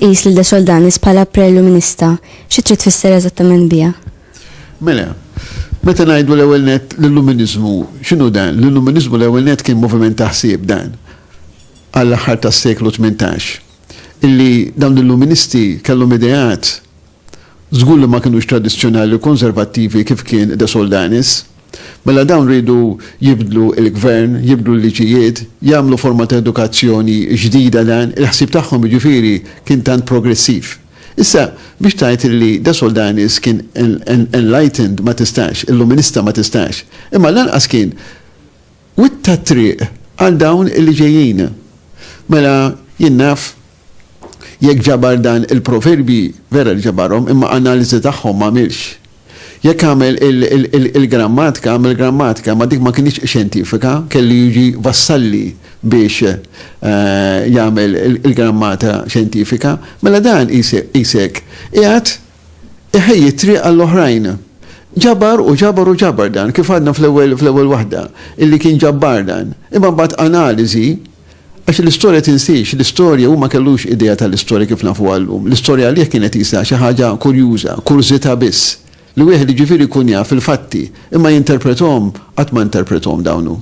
tqis lil De Soldanis bħala preluminista, xi trid tfisser eżattament biha? Mela, meta ngħidu l-ewwel net l-illuminizmu, x'inhu dan? L-illuminizmu l-ewwel net kien moviment taħsib dan għall-aħħar tas-seklu 18. illi dawn l-Illuministi kellhom ideat żgur li ma kinux tradizzjonali u konservattivi kif kien De Soldanis. Mela dawn riedu jibdlu l-gvern, jibdlu l-liġijiet, jagħmlu forma ta' edukazzjoni ġdida dan il-ħsieb tagħhom jiġifieri kien tant progressiv. Issa biex tgħid illi De Soldanis kien enlightened ma tistax, illuminista ma tistax. Imma lanqas kien Witta t-triq għal dawn li ġejjin. Mela, jien naf, jekk ġabar dan il-proverbji, vera li ġabarhom, imma analiżi tagħhom m'għamilx. Jekk għamel il-grammatka, għamel grammatika, imma dik ma kinitx xjentifika, kellu jiġi Vassalli biex jagħmel il-grammata xjentifika. Mela dan qisek qiegħed Iħejji t-triq għall-oħrajn. Ġabar u ġabar u ġabar dan, kif għadna fl-ewwel fl-ewwel waħda, illi kien ġabbar dan. Imma mbagħad analiżi, għax l-istorja tinsiex, l-istorja hu ma kellux idea tal-istorja kif nafuha llum. L-istorja għalih kienet qisha xi ħaġa kurjuża, kurżità biss, li wieħed jiġifieri jkun jaf il-fatti, imma jinterprethom, qatt ma interprethom dawn hu.